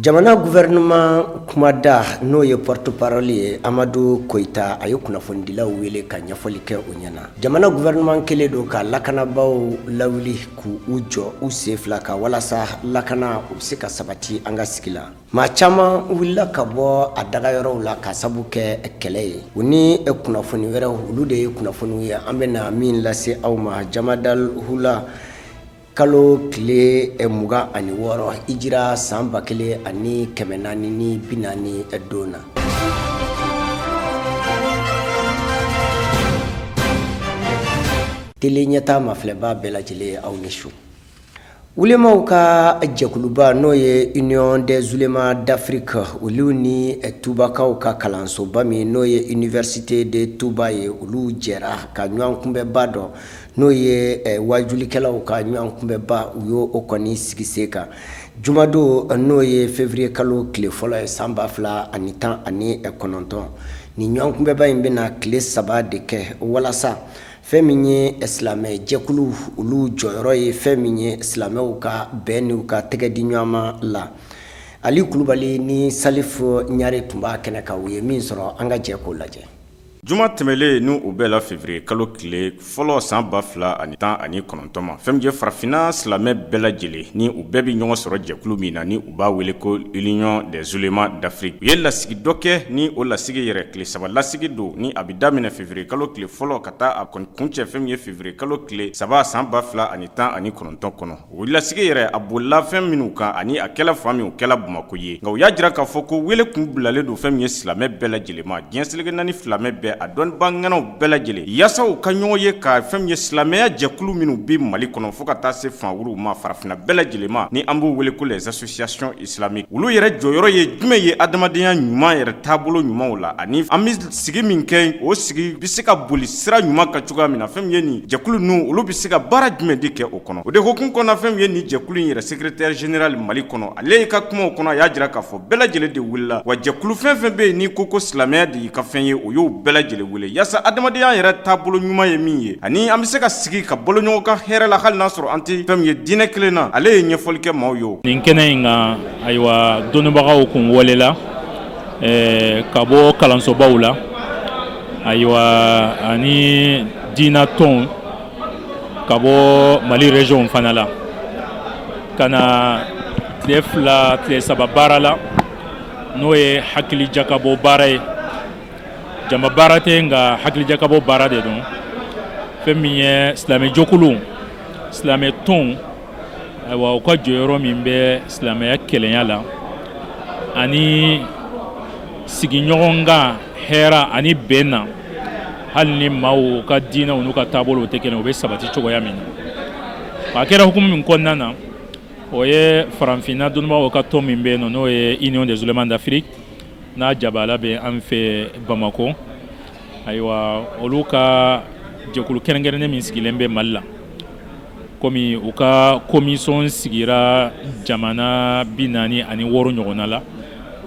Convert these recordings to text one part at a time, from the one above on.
Jamana gouvernement kumada n'o ye porte parole ye Amadu Koyita a ye kunnafonidilaw wele ka ɲɛfɔli kɛ u ɲɛna. Jamana gouvernement kɛlen don ka lakanabaaw lawuli k'u jɔ u sen fila kan walasa lakana u bɛ se ka sabati an ka sigi la. Maa caman wulila ka bɔ a dagayɔrɔw la ka sabu kɛ kɛlɛ ye. U ni kunnafoni wɛrɛw olu de ye kunnafoniw ye an bɛna min lase aw ma Jamadal Houla kalo tile mugan ani wɔɔrɔ hijira san ba kelen ani kɛmɛ naani ni bi naani don na Tele Ɲɛta mafilɛba bɛɛ lajɛlen aw ni su Ulemaw ka jɛkuluba n'o ye Union des Ulémas d'Afrique olu ni eh, Tubakaw ka kalansoba min n'o ye Université de Touba ye olu jɛra ka ɲɔgɔn kunbɛnba dɔ n'o ye eh, wajulikɛlaw ka ɲɔgɔn kunbɛnba u y' o kɔni sigi sen kan jumadon n'o ye février kalo tile fɔlɔ ye san ba fila ani tan ani eh, kɔnɔntɔn ni ɲɔgɔn kunbɛnba in bɛna tile saba de kɛ walasa fɛn min ye eh, silamɛ jɛkulu olu jɔyɔrɔ ye fɛn min ye silamɛw ka bɛn n'u ka tɛgɛ di ɲɔgɔnma la ali kulubali ni salifu ɲare tun b'a kɛnɛ kan u ye min sɔrɔ an ka jɛ k'o lajɛ Juma tɛmɛlen n' o bɛnna février kalo tile fɔlɔ san ba fila ani tan ani kɔnɔntɔn ma fɛn min ye farafinna silamɛ bɛɛ lajɛlen ni u bɛɛ bɛ ɲɔgɔn sɔrɔ jɛkulu min na ni u b'a wele ko l'Union des Ulémas d'Afrique u ye lasigi dɔ kɛ ni o lasigi yɛrɛ tile saba lasigi don ni a bɛ daminɛ février kalo tile fɔlɔ ka taa a kuncɛ fɛn min ye février kalo tile saba san ba fila ani tan ani kɔnɔntɔn kɔnɔ O lasigi yɛrɛ a bolila fɛn minnu kan ani a kɛla fan min o kɛla bamakɔ yen nka u y'a jira k'a fɔ ko wele kun bilalen don fɛn min ye silamɛ bɛɛ lajɛlen ma diɲɛ seleke naani silamɛ bɛɛ a dɔnniba ŋanaw bɛɛ lajɛlen yasa u ka ɲɔgɔn ye ka fɛn min ye silamɛya jɛkulu minnu bɛ mali kɔnɔ fo ka taa se fan wɛrɛw ma farafinna bɛɛ lajɛlen ma ni an b'u wele ko les associations islamiques olu yɛrɛ jɔyɔrɔ ye jumɛn ye adamadenya ɲuman yɛrɛ taabolo ɲumanw la ani an bɛ sigi min kɛ o sigi bɛ se ka boli sira ɲuman kan cogoya min na fɛn min ye nin jɛkulu ninnu olu bɛ se ka baara jumɛn de kɛ o kɔnɔ o de hukumu kɔnɔ fɛn min ye nin jɛkulu in yɛrɛ secrétaire général mali kɔnɔ ale i ka kumaw kɔnɔ a y'a jira k'a fɔ bɛɛ lajɛlen de wulila wa jɛkulu fɛn fɛn bɛ yen n'i ko ko silamɛya de y'i ka fɛn ye o y'o bɛɛ lajɛlen yasa adamadenya yɛrɛ taabolo ɲuman ye min ye ani an bɛ se ka sigi ka balo ɲɔgɔn kan hɛrɛ la hali n'a sɔrɔ an tɛ fɛn min ye diinɛ kelen na ale ye ɲɛfɔli kɛ maaw ye nin kɛnɛ in kan ayiwa dɔnnibagaw kun welela ka bɔ kalansobaw la ayiwa ani diina tɔn ka bɔ mali régionw fana la ka na tile fila tile saba baara la n'o ye hakilijakabɔ baara ye jama baara tɛ nka hakilijakabɔ baara de don fɛn min ye silamɛ jɛkuluw silamɛ tɔnw ayiwa u ka jɔyɔrɔ min bɛ silamɛya kelenya la ani sigiɲɔgɔnkan hɛra ani bɛn na hali ni maaw ka diinɛw n'u ka taabolow tɛ kelen u bɛ sabati cogoya min na a kɛra hukumu min kɔnɔna na o ye farafinna dɔnnibaaw ka tɔn min bɛ yen n'o ye union des oulémas d'afrique n'a jabaala bɛ an fɛ bamakɔ ayiwa olu ka jɛkulu kɛrɛnkɛrɛnnen min sigilen bɛ mali la komi u ka komisɔn sigira jamana bi naani ani wɔɔrɔ ɲɔgɔnna la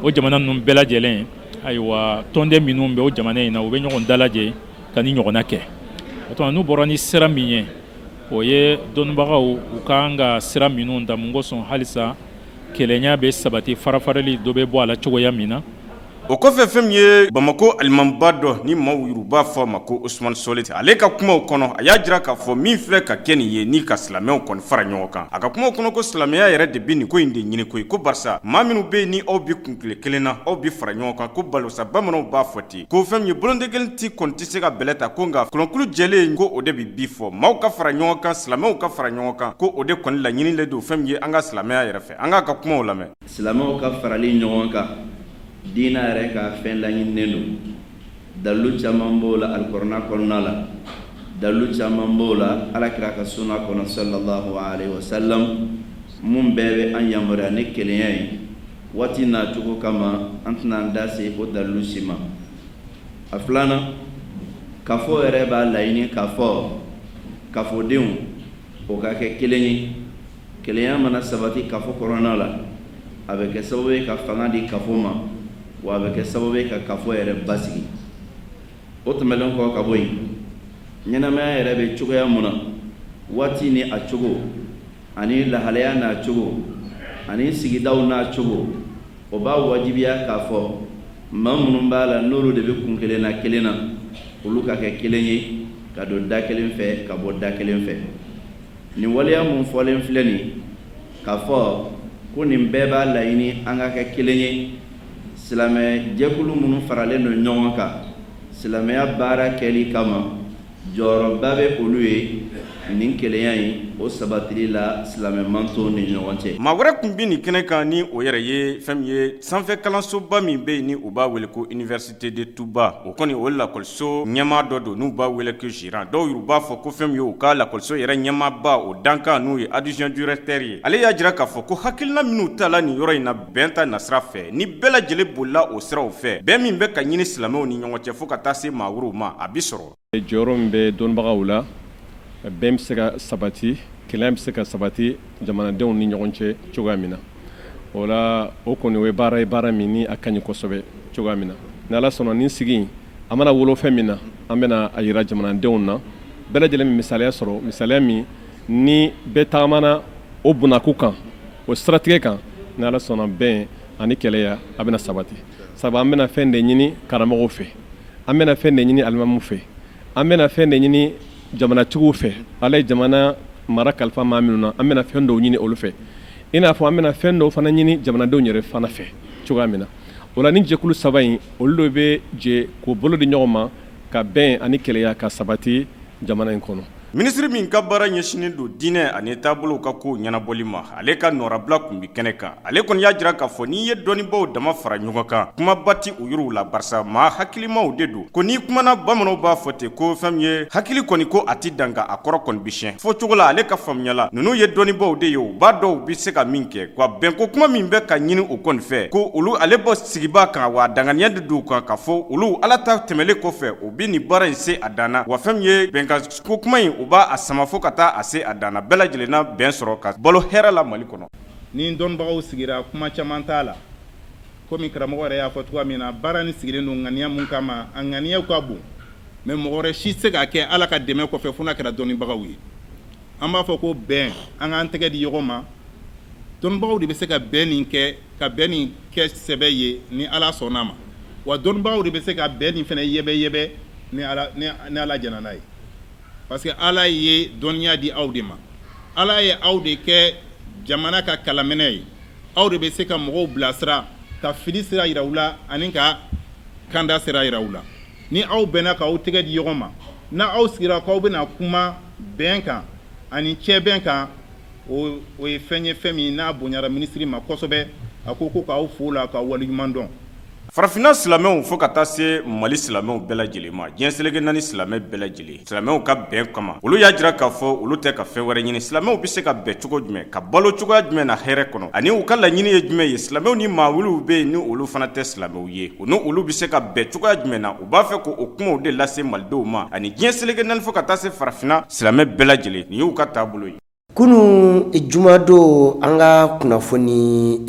o jamana ninnu bɛɛ lajɛlen ayiwa tɔnden minnu bɛ o jamana in na u bɛ ɲɔgɔn dalajɛ ka nin ɲɔgɔnna kɛ o tuma n'u bɔra ni sira min ye o ye dɔnnibagaw u ka kan ka sira minnu ta mun kosɔn halisa Kelenya bɛ sabati farafarali dɔ bɛ bɔ a la cogoya min na o kɔfɛ fɛn min ye bamakɔ alimamiba dɔ ni maaw yɛrɛ b'a fɔ a ma ko Ousmane Solih ale ka kumaw kɔnɔ a y'a jira k'a fɔ min filɛ ka kɛ nin ye ni ka silamɛw kɔni fara ɲɔgɔn kan a ka kumaw kɔnɔ ko silamɛya yɛrɛ de bɛ nin ko in de ɲini koyi ko barisa maa minnu bɛ yen ni aw bɛ kuntilen kelen na aw bɛ fara ɲɔgɔn kan ko balosa bamananw b'a fɔ ten ko fɛn min ye boloden kelen tɛ kɔni tɛ se ka bɛlɛ ta ko nka kɔnɔkulu jɛlen in ko o de bɛ bi fɔ maaw ka fara ɲɔgɔn kan silamɛw ka fara ɲɔgɔn kan ko o de kɔni laɲininen don fɛn min ye an ka silamɛya yɛrɛ fɛ an k'a ka kumaw lamɛn silamɛw ka farali ɲɔgɔn kan diinɛ yɛrɛ ka fɛn laɲininen don dalilu caman b'o la alikurana kɔnɔna la dalilu caman b'o la alakira ka sunna kɔnɔ sallallahu alayhi wa sallam minnu bɛɛ bɛ an yamaruya ni kelenya ye waati n'a cogo kama an tɛna an da se o dalilu si ma a filanan kafo yɛrɛ b'a laɲini k'a fɔ kafodenw o ka kɛ kelen ye kelenya mana sabati kafo kɔnɔna la a bɛ kɛ sababu ye ka fanga di kafo ma wa a bɛ kɛ sababu ye ka kafo yɛrɛ basigi o tɛmɛnen kɔ ka bɔ yen ɲɛnamaya yɛrɛ bɛ cogoya mun na waati ni a cogo ani lahalaya n'a cogo ani sigidaw n'a cogo o b'a wajibiya k'a fɔ maa minnu b'a la n'olu de bɛ kuntilenna kelen na olu ka kɛ kelen ye ka don da kelen fɛ ka bɔ da kelen fɛ nin waleya minnu fɔlen filɛ nin k'a fɔ ko nin bɛɛ b'a laɲini an ka kɛ kelen ye silamɛ jɛkulu minnu faralen don ɲɔgɔn kan silamɛya baara kɛli kama jɔyɔrɔba bɛ olu ye nin kelenya in o sabatili la silamɛ mantɔn ni ɲɔgɔn cɛ. Maa wɛrɛ tun bɛ nin kɛnɛ kan ni o yɛrɛ ye fɛn min ye sanfɛ kalansoba min bɛ yen ni u b'a wele ko Université de Touba o kɔni o lakɔliso ɲɛmaa dɔ don n'u b'a wele ko gérant dɔw yɛrɛ b'a fɔ ko fɛn min ye u ka lakɔliso yɛrɛ ɲɛmaaba o dankan n'o ye adjoint directeur ye ale y'a jira k'a fɔ ko hakilina minnu tala nin yɔrɔ in na bɛn ta nasira fɛ ni bɛɛ lajɛlen bolila o siraw fɛ bɛn min bɛ ka ɲini silamɛw ni ɲɔgɔn cɛ fo ka taa se maa wɛrɛw ma a bi sɔrɔ jɔyɔrɔ min bɛ dɔnnibagaw la bɛn bɛ se ka sabati kelenya bɛ se ka sabati jamanadenw ni ɲɔgɔn cɛ cogoya min na o la o kɔni o ye baara ye baara min ni a ka ɲi kosɛbɛ cogoya min na ni ala sɔnna nin sigi a mana wolo fɛn min na an bɛna a yira jamanadenw na bɛɛ lajɛlen bɛ misaliya sɔrɔ misaliya min ni bɛɛ tagamana o bunaku kan o siratigɛ kan ni ala sɔnna bɛn ani kelenya a bɛna sabati sabu an bɛna fɛn de ɲini karamɔgɔw fɛ an bɛna fɛn de ɲini alimamuw fɛ an bɛna fɛn de ɲini jamanatigiw fɛ ala ye jamana mara kalifa maa minnu na an bɛna fɛn dɔw ɲini olu fɛ i n'a fɔ an bɛna fɛn dɔw fana ɲini jamanadenw yɛrɛ fana fɛ cogoya min na o la ni jɛkulu saba in olu de bɛ jɛ k'u bolo di ɲɔgɔn ma ka bɛn ani kelenya ka sabati jamana in kɔnɔ minisiri min ka baara ɲɛsinnen don diinɛ ani taabolow ka kow ɲɛnabɔli ma ale ka nɔrabila tun bɛ kɛnɛ kan ale kɔni y'a jira k'a fɔ n'i ye dɔnnibaw dama fara ɲɔgɔn kan kumaba tɛ u yɔrɔ la barisa maa hakilimaw de don ko n'i kumana bamananw b'a fɔ ten ko fɛn min ye hakili kɔni ko a tɛ danga a kɔrɔ kɔni bɛ siɲɛ fɔ cogo la ale ka faamuyaya la ninnu ye dɔnnibaw de ye u b'a dɔn bɛ se ka min kɛ wa bɛnko kuma min bɛ ka ɲini u kɔni fɛ ko olu ale bɔ sigibaa kan wa danganiya de don u kan k'a fɔ olu ala ta tɛmɛnlen kɔfɛ u bɛ nin baara in se a dan na wa fɛn min ye bɛnkan ko kuma in u b'a sama fo ka taa a se a dan na bɛɛ lajɛlen na bɛn sɔrɔ ka balo hɛrɛ la mali kɔnɔ ni dɔnnibagaw sigira kuma caman t'a la komi karamɔgɔ yɛrɛ y'a fɔ cogoya min na baara nin sigilen don ŋaniya min kama a ŋaniya ka bon mais mɔgɔ wɛrɛ si tɛ se k'a kɛ ala ka dɛmɛ kɔfɛ fo n'a kɛra dɔnnibagaw ye an b'a fɔ ko bɛn an k'an tɛgɛ di ɲɔgɔn ma dɔnnibagaw de bɛ se ka bɛn nin kɛ ka bɛn nin kɛ sɛbɛ ye ni ala sɔnn'a ma wa dɔnnibagaw de bɛ se ka bɛn nin fana yɛbɛyɛbɛ ni ala jɛnna n'a ye parce que ala ye dɔnniya di aw de ma ala ye aw de kɛ jamana ka kalaminɛ ye aw de bɛ se ka mɔgɔw bilasira ka fili sira yira u la ani ka kanda sira yira u la Ni aw bɛnna k'aw tɛgɛ di ɲɔgɔn ma, n'aw sigira k'aw bɛna kuma bɛn kan ani cɛbɛn kan, o ye fɛn ye fɛn min n'a bonyara minisiri ma kosɛbɛ, a ko ko k'aw fo o la k'aw waleɲuman dɔn. Farafinna silamɛw fo ka taa se Mali silamɛw bɛɛ lajɛlen ma, diɲɛ seleke naani silamɛ bɛɛ lajɛlen. silamɛw ka bɛn kama olu y'a jira k'a fɔ olu tɛ ka fɛn wɛrɛ ɲini silamɛw bɛ se ka bɛn cogo jumɛn ka balo cogoya jumɛn na hɛrɛ kɔnɔ ani u ka laɲini ye jumɛn ye silamɛw ni maa wɛrɛw bɛ yen ni olu fana tɛ silamɛw ye u ni olu bɛ se ka bɛn cogoya jumɛn na u b'a fɛ k'o kumaw de lase malidenw ma ani diɲɛ seleke naani fo ka taa se farafinna silamɛ bɛɛ lajɛlen nin y'u ka taabolo ye Kunun jumadon an ka kunnafoni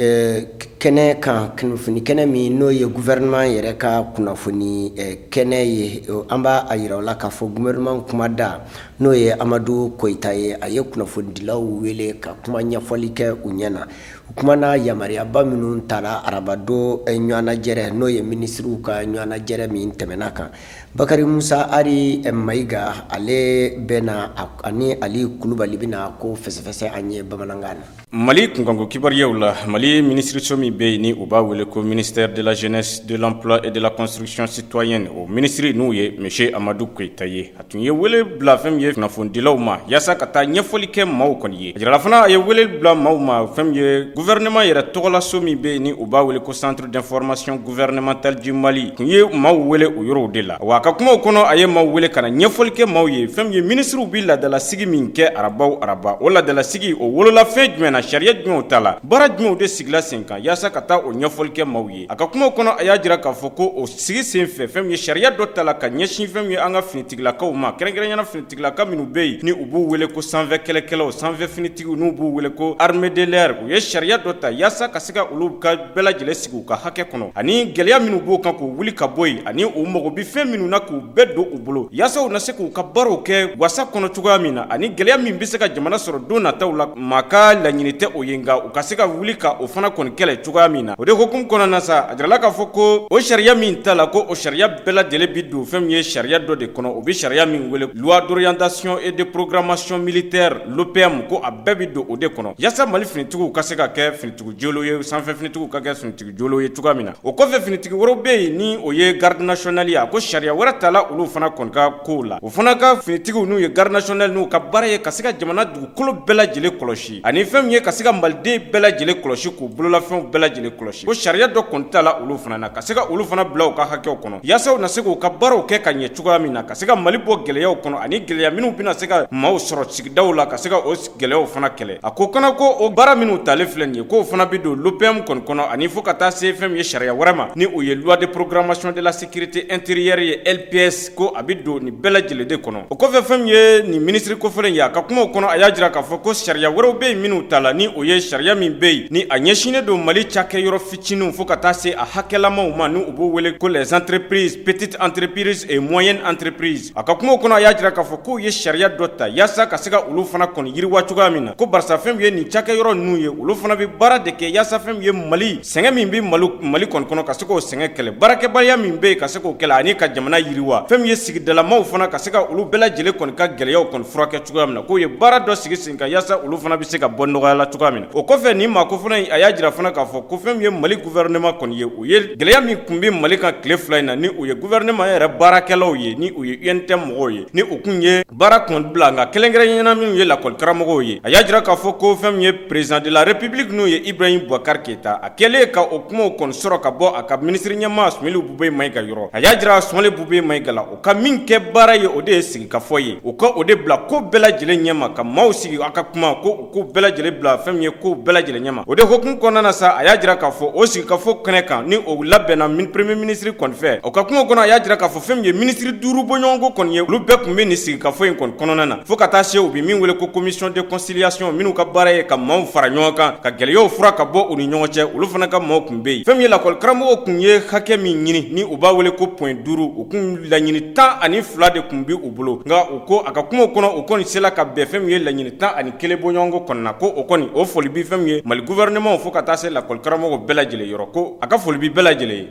kɛnɛ kan kunnafoni kɛnɛ min n'o ye gouvernement yɛrɛ ka kunnafoni kɛnɛ ye an b'a jira aw la k'a fɔ gouvernement kumada n'o ye Amadu Koyita ye a ye kunnafonidilaw wele ka kuma ɲɛfɔli kɛ u ɲɛ na u kumana yamaruyaba minnu tara arabadon ɲɔgɔnnajɛrɛ n'o ye minisiriw ka ɲɔgɔnnajɛrɛ min tɛmɛna kan Bakari Musa Ari Mayiga ale bɛna ani Ali Kulubali bɛna ko fɛsɛfɛsɛ an ye bamanankan na. Mali kunkanko kibaruyaw la, Mali minisiriso min bɛ yen ni u b'a wele ko ministère de la jeunesse, de l'emploi et de la construction citoyenne o minisiri n'o ye monsieur Amadu Koyita ye, a tun ye wele bila fɛn min ye kunnafonidilaw ma yasa ka taa ɲɛfɔli kɛ maaw kɔni ye. A jirala fana a ye wele bila maaw ma fɛn min ye gouvernement yɛrɛ tɔgɔlaso min bɛ yen ni u b'a wele ko centre d'information gouvernementale du Mali tun ye maaw wele o yɔrɔ de la wa a ka kumaw kɔnɔ a ye maaw wele ka na ɲɛfɔli kɛ maaw ye fɛn min ye minisiriw bɛ laadalasigi min kɛ araba o araba o laadalasigi o wolola fɛn jumɛn na sariya jumɛnw ta la baara jumɛnw de sigila sen kan yaasa ka taa o ɲɛfɔli kɛ maaw ye a ka kumaw kɔnɔ a y'a jira k'a fɔ ko o sigi sen fɛ fɛn min ye sariya dɔ ta la ka ɲɛsin fɛn min ye an ka finitigilakaw ma kɛrɛnkɛrɛnyana finitigilaka minnu bɛ yen ni u b'u wele ko sanfɛ kɛlɛkɛlaw sanfɛ finitigiw n'u b'u wele ko armée de l'air u ye sariya dɔ ta yaasa ka se ka olu ka bɛɛ lajɛlen sigi u ka hakɛ kɔnɔ ani gɛlɛya minnu b'o kan k'u wuli ka bɔ yen ani u mago bɛ fɛn minnu na k'u bɛɛ don u bolo yaasa u na se k'u ka baaraw kɛ wasa kɔnɔ cogoya min na ani gɛlɛya min bɛ se ka jamana sɔrɔ don nataw la maa ka laɲini tɛ o ye nka u ka se ka wuli ka o fana kɔni kɛlɛ cogoya min na o de hukumu kɔnɔna na sa a jirala k'a fɔ ko o sariya min ta la ko o sariya bɛɛ lajɛlen bɛ don fɛn min ye sariya dɔ de kɔnɔ u bɛ sariya min wele loi d'orientation et de programmation militaire LOPM ko a bɛɛ bɛ don o de kɔnɔ yaasa Mali finitigiw ka se ka kɛ finitigiw jɔlen ye sanfɛ finitigiw ka kɛ finitigiw jɔlen ye cogoya min na o kɔfɛ finitigi wɛrɛ bɛ yen ni o ye garde nationale ye a ko sariya wɛrɛ ta la olu fana kɔni ka kow la o fana ka finitigiw n'u ye garde nationale n'u ka baara ye ka se ka jamana dugukolo bɛɛ lajɛlen kɔlɔsi ani fɛn min ye ka se ka maliden bɛɛ lajɛlen kɔlɔsi k'u bololafɛnw bɛɛ lajɛlen kɔlɔsi ko sariya dɔ kɔni ta la olu fana na ka se ka olu fana bila u ka hakɛw kɔnɔ yaasa u na se k'u ka baaraw kɛ ka ɲɛ cogoya min na ka se ka mali bɔ gɛlɛyaw kɔnɔ ani gɛlɛya minnu bɛna se ka maaw sɔrɔ sigidaw la ka se ka o gɛlɛyaw fana kɛlɛ a ko kana ko o baara minnu talen filɛ nin ye k'o fana bɛ don LOPM kɔni kɔnɔ ani fo ka taa se fɛn min ye sariya wɛrɛ ma ni o ye loi de programmation de la sécurité intérieure ye LPS ko a bɛ don nin bɛɛ lajɛlen de kɔnɔ o kɔfɛ fɛn min ye nin minisiri kofɔlen in ye a ka kumaw kɔnɔ a y'a jira k'a fɔ ko sariya wɛrɛw bɛ yen minnu ta la ni o ye sariya min bɛ yen ni a ɲɛsinnen don Mali cakɛyɔrɔ fitininw fo ka taa se a hakɛlamaw ma ni u b'o wele ko les entreprises petites entreprises et moyennes entreprises A ka kumaw kɔnɔ a y'a jira k'a fɔ k'u ye sariya dɔ ta yasa ka se ka olu fana kɔni yiriwa cogoya min na ko barisa fɛn min ye nin cakɛyɔrɔ ninnu ye olu fana bɛ baara de kɛ yaasa fɛn min ye mali sɛgɛn min bɛ mali mali kɔni kɔnɔ ka se k'o sɛgɛn kɛlɛ baarakɛbaliya min bɛ yen ka se k'o kɛlɛ ani ka jamana yiriwa fɛn min ye sigidalamaw fana ka se ka olu bɛɛ lajɛlen kɔni ka gɛlɛyaw kɔni furakɛ cogoya min na k'u ye baara dɔ sigi sen nka yaasa olu fana bɛ se ka bɔ nɔgɔya la cogoya min o kɔfɛ nin maa ko fana a y'a jira fana k'a fɔ ko fɛn min ye mali gouvernement kɔni ye u ye gɛlɛya min kun bɛ mali kan tile fila in na ni u ye gouvernement yɛrɛ baarakɛlaw ye ni u ye UNTM mɔgɔw ye ni u kun ye baara kɔni bila nka kɛrɛnkɛrɛnnenya na minnu ye lakɔlikaramɔgɔw ye a y'a jira k'a fɔ ko fɛn min ye président de la république n'o ye ibrahim boubacar keyita a kɛlen ka o kumaw kɔni sɔrɔ ka bɔ a ka minisiri ɲɛmaa sumeyilu bubɛyi mayiga yɔrɔ a y'a jira sumeyilu bubɛyi mayiga u ka min kɛ baara ye o de ye sigikafɔ ye u ka o de bila ko bɛɛ lajɛlen ɲɛma ka maaw sigi a ka kuma ko ko bɛɛ lajɛlen bila fɛn min ye ko bɛɛ lajɛlen ɲɛma o de hukumu kɔnɔna na sa a y'a jira k'a fɔ o sigikafɔ kɛnɛ kan ni o labɛnna min premier minisiri kɔni fɛ o ka kuma kɔnɔ a y'a jira k'a fɔ fɛn min ye minisiri duuru bɔɲɔgɔnko kɔni ye olu bɛɛ kun bɛ nin sigikafɔ in kɔni kɔnɔna na fo ka taa se u bɛ min wele ko commission de conciliation minnu ka baara ye ka maaw fara ɲɔgɔn kan ka gɛlɛyaw fura ka bɔ u ni ɲɔgɔn cɛ olu fana ka maaw kun bɛ yen fɛn min ye lakɔlikaramɔgɔw kun ye hakɛ min ɲini ni u b'a wele ko point duuru u kun laɲini tan ani fila de kun bɛ u bolo nka u ko a ka kuma kɔnɔ u kɔni sela ka bɛn fɛn min ye laɲini tan ani kelen bɔɲɔgɔnko kɔnɔna na ko o kɔni o foli bɛ fɛn min ye mali gouvernement fo ka taa se lakɔlikaramɔgɔw bɛɛ lajɛlen yɔrɔ ko a ka foli bɛ bɛɛ lajɛlen ye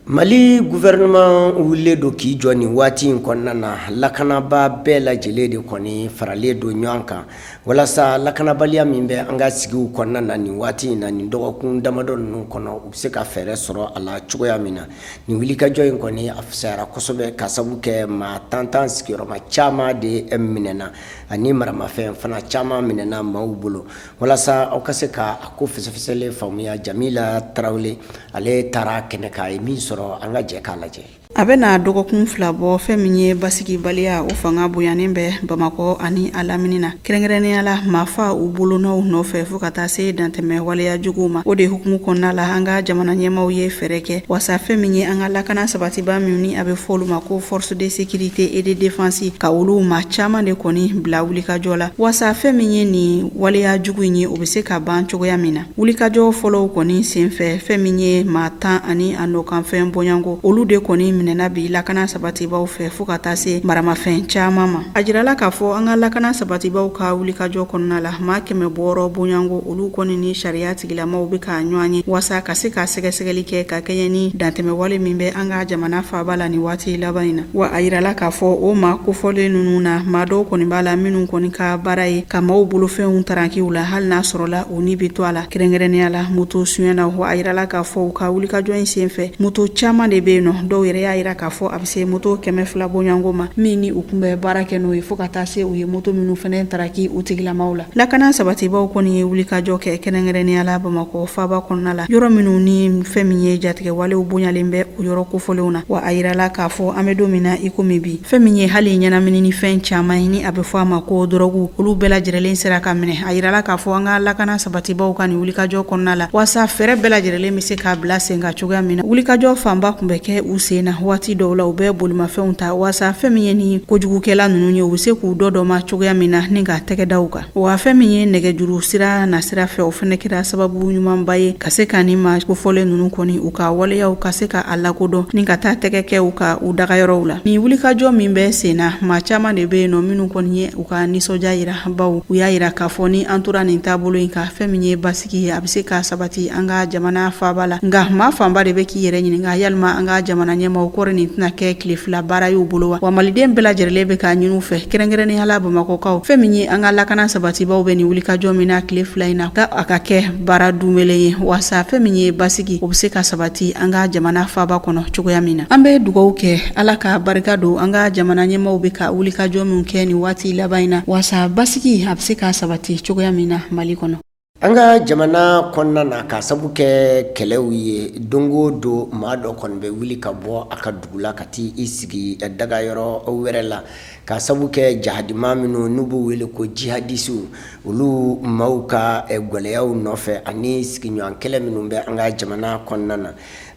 mali gouvernement wulilen don k'i jɔ nin waati in kɔnɔna na lakanabaa bɛɛ lajɛlen de kɔni faralen don ɲɔgɔn kan walasa lakanabaliya min bɛ an ka sigiw kɔnɔna na nin waati in na nin dɔgɔkun damadɔ ninnu kɔnɔ u bɛ se ka fɛɛrɛ sɔrɔ a la cogoya min na Nin wulikajɔ in kɔni a fisayara kosɛbɛ ka sabu kɛ maa tantan sigiyɔrɔma caman de minɛna ani maramafɛn fana caman minɛna maaw bolo walasa aw ka se ka a ko fɛsɛfɛsɛlen faamuya jamila tarawele ale taara kɛnɛ kan a ye min sɔrɔ an ka jɛ k'a lajɛ a bɛna dɔgɔkun fila bɔ fɛn min ye basigibaliya o fanga bonyanen bɛ bamakɔ ani a lamini na Kɛrɛnkɛrɛnnenya la maafa u bolonɔw nɔfɛ fo ka taa se dantɛmɛ waleyajuguw ma o de hukumu kɔnɔna la an ka jamana ɲɛmaaw ye fɛɛrɛ kɛ wasa fɛn min ye an ka lakana sabatiba minnu ni a bɛ fɔ olu ma ko force de sécurité et de défense ka olu maa caman de kɔni bila wulikajɔ la wasa fɛn min ye nin waleyajugu in ye o bɛ se ka ban cogoya min na Wulikajɔ fɔlɔw kɔni senfɛ fɛn min ye maa tan ani a nɔkanfɛn bɔɲɔgɔnko olu de kɔni minɛna bi lakana sabatibaw fɛ fo ka taa se maramafɛn caman ma a jirala k'a fɔ an ka lakana sabatibaw ka wulikajɔ kɔnɔna la maa kɛmɛ wɔɔrɔ bɔɲɔgɔnko olu kɔni ni sariya tigilamaw bɛ ka ɲɔgɔn ye walasa ka se ka sɛgɛsɛgɛli kɛ ka kɛɲɛ ni dantɛmɛwale min bɛ an ka jamana faaba la nin waati laban in na wa a jirala k'a fɔ o maa kofɔlen ninnu na maa dɔw kɔni b'a la minnu kɔni ka baara ye ka maaw bolofɛnw taraki u la hali n'a sɔrɔla U ni bɛ to a la kɛrɛnkɛrɛnnenya la moto sonyɛ na wa a jirala k'a fɔ u ka wulikajɔ in senfɛ moto caman de bɛ yen nɔ dɔw yɛrɛ y'a jira k'a fɔ a bɛ se moto kɛmɛ fila bɔɲɔgɔnko ma min ni u kun bɛ baara kɛ n'o ye fo ka taa se u ye moto minnu fana taraki u tigilamaw la lakana sabatibaw kɔni ye wulikajɔ kɛ kɛrɛnkɛrɛnnenya la bamakɔ faaba kɔnɔna la yɔrɔ minnu ni fɛn min ye jatigɛwalew bonyalen bɛ o yɔrɔ kofɔlenw na wa a jirala k'a fɔ an bɛ don min na iko min bi Fɛn min ye hali ɲɛnaminini fɛn caman ye ni a bɛ fɔ a ma ko dɔrɔguw olu bɛɛ lajɛlen sera ka minɛ a jirala k'a fɔ an ka lakana sabatibaw ka nin wulikajɔ kɔnɔna la walasa fɛɛrɛ bɛɛ lajɛlen bɛ se k'a bila sen kan cogoya min na wulikajɔ fanba tun bɛ kɛ u sen na waati dɔw la u bɛ bolimafɛnw ta walasa fɛn min ye ni kojugukɛla ninnu ye u bɛ se k'u dɔ dɔ ma cogoya min na ni ka tɛgɛ da u kan Wa fɛn min ye nɛgɛjuru sira nasira fɛ o fana kɛra sababu ɲumanba ye ka se ka nin maa kofɔlen ninnu kɔni u ka waleyaw ka se ka a lakodɔn ni ka taa tɛgɛ kɛ u kan u dagayɔrɔw la nin wulikajɔ min bɛ sen na maa caman de bɛ yen nɔ minnu kɔni ye u ka nisɔndiya jira baw u y'a jira k'a fɔ ni an tora nin taabolo in kan fɛn min ye basi sigi a bɛ se ka sabati an ka jamana faaba la nka maa fanba de bɛ k'i yɛrɛ ɲininka yalima an ka jamana ɲɛmaaw kɔri nin tɛna kɛ tile fila baara y'u bolo wa wa maliden bɛɛ lajɛlen bɛ k'a ɲini u fɛ kɛrɛnkɛrɛnnenya la bamakɔkaw fɛn min ye an ka lakana sabatibaw bɛ nin wulikajɔ min na tile fila in na ka a ka kɛ baara duumɛlen ye walasa fɛn min ye basigi o bɛ se ka sabati an ka jamana faaba kɔnɔ cogoya min na an bɛ dugaw kɛ ala ka barika don an ka jamana ɲɛmaaw bɛ ka wulikajɔ min kɛ nin waati laban in na walasa basigi a bɛ se ka sabati cogoya min na mali kɔnɔ An ka jamana kɔnɔna na k'a sabu kɛ kɛlɛw ye don o don maa dɔ kɔni bɛ wuli ka bɔ a ka dugu la ka taa i sigi dagayɔrɔ wɛrɛ la k'a sabu kɛ jahadi maa minnu n'u b'u wele ko jihadisiw olu maaw ka gɛlɛyaw nɔfɛ ani sigiɲɔgɔn kɛlɛ minnu bɛ an ka jamana kɔnɔna na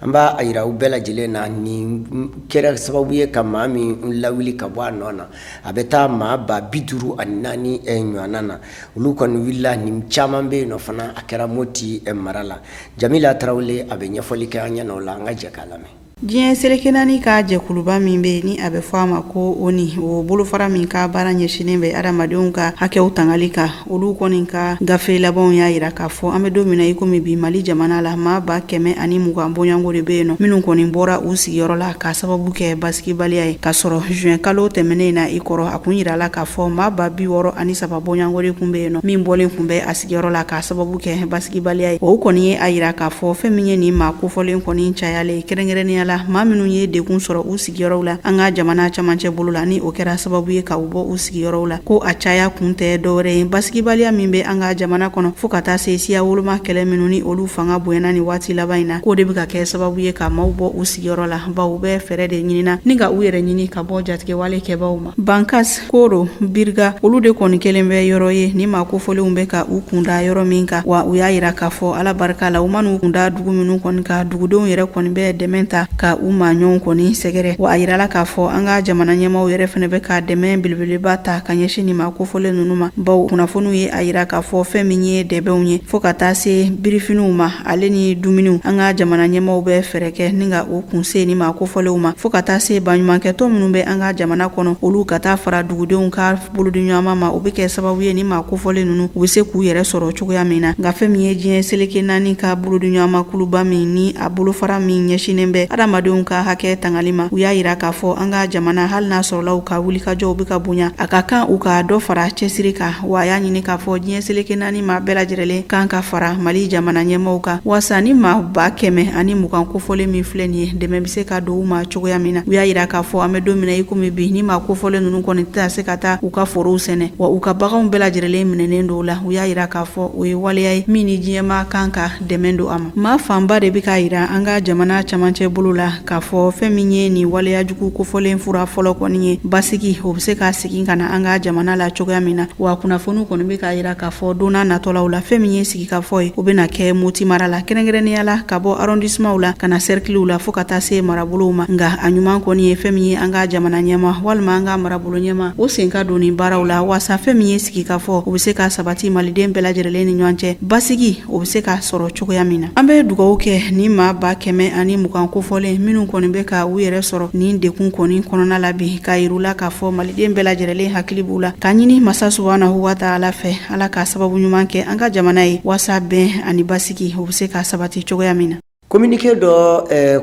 An b'a jira u bɛɛ lajɛlen na nin kɛra sababu ye ka maa min lawuli ka bɔ a nɔ na a bɛ taa maa ba bi duuru ani naani ɲɔgɔnna na olu kɔni wulila ni caman bɛ yen nɔ fana a kɛra moti mara la jamila tarawele a bɛ ɲɛfɔli kɛ an ɲɛna o la an ka jɛ k'a lamɛn diɲɛ seleke naani ka jɛkuluba min bɛ ni a bɛ fɔ a ma ko oni o bolofara min ka baara ɲɛsinnen bɛ adamadenw ka hakɛw tangali kan olu kɔni ka gafe labanw y'a jira k'a fɔ an bɛ don min na i komi bi mali jamana la maa ba kɛmɛ ani mugan bɔɲɔgɔnko de bɛ yen nɔ minnu kɔni bɔra u sigiyɔrɔ la k'a sababu kɛ basigibaliya ye k'a sɔrɔ zuwɛn kalo tɛmɛnen in na i kɔrɔ a kun jirala k'a fɔ maa ba bi wɔɔrɔ ani saba bɔɲɔgɔnko de tun bɛ yen nɔ min bɔlen tun bɛ a sigiyɔrɔ la k'a sababu kɛ basigibaliya ye o kɔni ye a jira k'a fɔ fɛn min ye nin maa kofɔlen kɔni cayalen kɛrɛnkɛrɛnnenya la maa minnu ye degun sɔrɔ u sigi sigiyɔrɔw la an ka jamana camancɛ bolo la ni o kɛra sababu ye ka u bɔ u sigiyɔrɔw la ko a caya kun tɛ dɔwɛrɛ ye basigibaliya min bɛ an ka jamana kɔnɔ fo ka taa se siya woloma kɛlɛ minnu ni olu fanga bonyana nin waati laban in na k'o de bɛ ka kɛ sababu ye ka maaw bɔ u sigiyɔrɔ la baw u bɛ fɛɛrɛ de ɲini na ni ka u yɛrɛ ɲini ka bɔ jatigɛwale kɛbaw ma Bankas koro biriga olu de kɔni kɛlen bɛ yɔrɔ ye ni maa kofɔlenw bɛ ka u kun da yɔrɔ min kan wa u y'a jira k'a fɔ ala barika la u man'u kun da dugu minnu kɔni kan dugudenw yɛrɛ kɔni bɛ dɛmɛ ta ka u maaɲɔgɔn kɔni sɛgɛrɛ wa a jirala k'a fɔ an ka jamana ɲɛmaaw yɛrɛ fana bɛ ka dɛmɛ belebeleba ta ka ɲɛsin nin maa kofɔlen ninnu ma baw kunnafoniw ye a jira k'a fɔ fɛn min ye dɛbɛnw ye fo ka taa se birifiniw ma ale ni dumuniw an ka jamana ɲɛmaaw bɛ fɛɛrɛ kɛ ni ka o kunsin nin maa kofɔlenw ma fo ka taa se baɲumankɛtɔ minnu bɛ an ka jamana kɔnɔ olu ka taa fara dugudenw ka bolodiɲɔgɔnma ma o bɛ kɛ sababu ye nin maa kofɔlen ninnu u bɛ se k'u yɛrɛ sɔrɔ cogoya min na nka fɛn min ye diɲɛ seleke naani ka bolodiɲɔgɔnma kuluba min ni a bolofara min ɲɛsinnen bɛ adamadenw ka hakɛ tangali ma u y'a yira k'a fɔ an ka jamana hali n'a sɔrɔla u ka wulikajɔw bɛ ka bonya a ka kan u ka dɔ fara cɛsiri kan wa a y'a ɲini k'a fɔ diɲɛ seleke naani ni maa bɛɛ lajɛrɛlen kan ka fara mali jamana ɲɛmaaw kan walasa nin maa ba kɛmɛ ani mugan kofɔlen min filɛ nin ye dɛmɛ bɛ se ka don u ma cogoya min na u y'a yira k'a fɔ an bɛ don min na i komi bi nin maa kofɔlen ninnu kɔni tɛna se ka taa u ka forow sɛnɛ wa u ka baganw bɛɛ lajɛrɛlen minɛnen don u la u y'a yira k'a fɔ o ye waleya ye min ni diɲɛ maa kan ka dɛmɛ don a ma maa fanba de bɛ k'a yira an ka jamana camancɛ bolo la K'a fɔ fɛn min ye nin waleyajugu kofɔlen fura fɔlɔ kɔni ye basigi o bɛ se ka segin ka na an ka jamana la cogoya min na wa kunnafoniw kɔni bɛ k'a yira k'a fɔ don natɔlaw la fɛn min ye sigikafɔ ye o bɛna na kɛ moti mara la kɛrɛnkɛrɛnnenya la ka bɔ arɔndisimanw la ka na sɛrikiliw la fo ka taa se marabolow ma nka a ɲuman kɔni ye fɛn min ye an ka jamana ɲɛmaa walima an ka marabolo ɲɛmaa o sen ka don nin baaraw la walasa fɛn min ye sigikafɔ o bɛ se ka sabati maliden bɛɛ lajɛrɛlen ni ɲɔgɔn cɛ basigi o bɛ se ka sɔrɔ cogoya min na an bɛ dugawu kɛ nin maa ba kɛmɛ ani mugan kofɔlen minnu kɔni bɛ ka u yɛrɛ sɔrɔ nin degun kɔni kɔnɔna la bi k'a yira u la k'a fɔ maliden bɛɛ lajɛrɛlen hakili b'u la k'a ɲini masa subhanahu wa ta'ala fɛ ala ka sababu ɲuman kɛ an ka jamana ye walasa bɛn ani basigi o bɛ se ka sabati cogoya min na Kominike dɔ